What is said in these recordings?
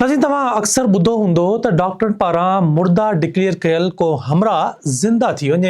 ناظرين توهان اڪثر ٻڌو هوندو ته ڊاڪٽرن پاران مرده ڊڪليئر ڪيل ڪو همراهه زنده ٿي وڃي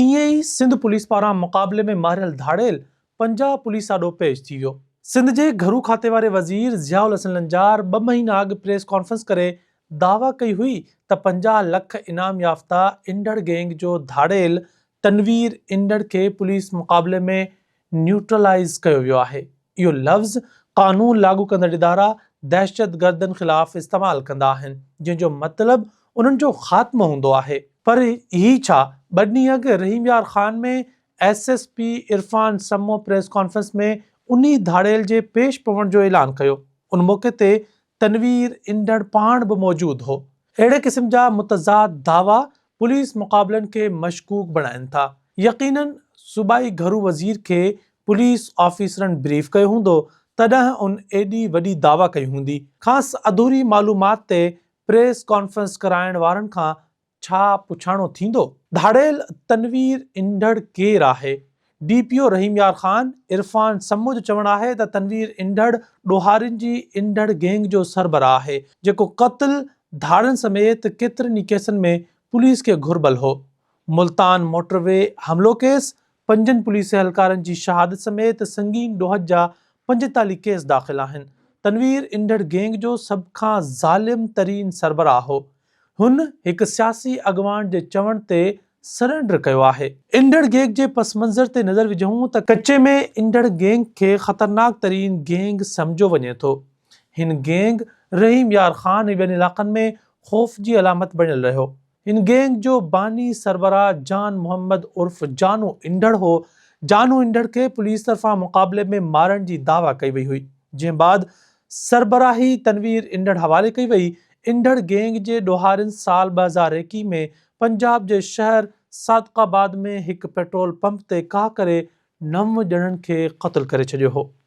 ائين ئي سنڌ پوليس پاران مقابلي ۾ ماريل ڌاڙيل پنجاب پوليس آڏو پيش ٿي ويو سنڌ جي گهرو کاتي واري وزير ضياء الحسن لنجار ٻه مهينا اڳ پريس ڪانفرنس ڪري دعويٰ ڪئي هئي ته پنجاهه لک انعام يافته انڊڙ گينگ جو ڌاڙيل تنوير انڊڙ کي پوليس مقابلي ۾ نيوٽرلائيز ڪيو ويو آهي. اهو لفظ قانون لاڳو ڪندڙ ادارا دهشتگردن خلاف استعمال ڪندا آهن، جنهن جو مطلب انهن جو خاتمو هوندو آهي. پر هي ڇا؟ ٻه ڏينهن اڳ رحيم Yar Khan ۾ S S P Irfan Samoo press conference ۾ انهي ڌاڙيل جي پيش پوڻ جو اعلان ڪيو. ان موقعي تي تنوير انڊڙ پاڻ به موجود هو. اهڙي قسم جا متضاد دعويٰ پوليس مقابلن کي مشڪوڪ بڻائين ٿا. يقيناً صوبائي گهرو وزير کي پوليس آفيسرن بريف ڪيو هوندو، تڏهن ان ايڏي وڏي دعويٰ ڪئي هوندي. کانئس اڌوري معلومات تي پريس ڪانفرنس ڪرائڻ وارن کان ڇا پڇاڻو ٿيندو؟ ڌاڙيل تنوير انڍڙ ڪير آهي؟ D P O Rahim Yar Khan, Irfan Samoon جو چوڻ آهي ته تنوير انڍڙ ڏوهارين جي انڍڙ گينگ جو سربراهه آهي، جيڪو قتل، ڌاڙن سميت ڪيترن ئي ڪيسن ۾ پوليس کي گهربل هو. ملتان موٽر وي حملو ڪيس، پنجن پوليس اهلڪارن جي شهادت سميت سنگين ڏوهه جا پنجيتاليهه ڪيس داخل آهن. تنوير انڍڙ گينگ جو سڀ کان ظالم ترين سربراهه هو. هن هڪ سياسي اڳواڻ جي چوڻ تي سرينڊر ڪيو آهي. انڍڙ گيگ جي پس منظر تي نظر وجهون ته ڪچي ۾ انڍڙ گينگ کي خطرناڪ ترين گينگ سمجهيو وڃي ٿو. هن گينگ رحيم يار خان ۽ ٻين علاقن ۾ خوف جي علامت بڻيل رهيو. هن گينگ جو باني سربراهه جان محمد عرف جانو انڍڙ هو، جانو انڍڙ کي پوليس طرفان مقابلي ۾ مارڻ جي دعويٰ ڪئي وئي هئي، جنهن بعد سربراهي تنوير انڍڙ حوالي ڪئي وئي، انڍڙ گينگ جي ڏوهارين سال ٻه هزار ايڪيهه ۾ پنجاب جي شهر صادق آباد ۾ هڪ پيٽرول پمپ تي ڪاهه ڪري نو ڄڻن کي قتل ڪري ڇڏيو هو.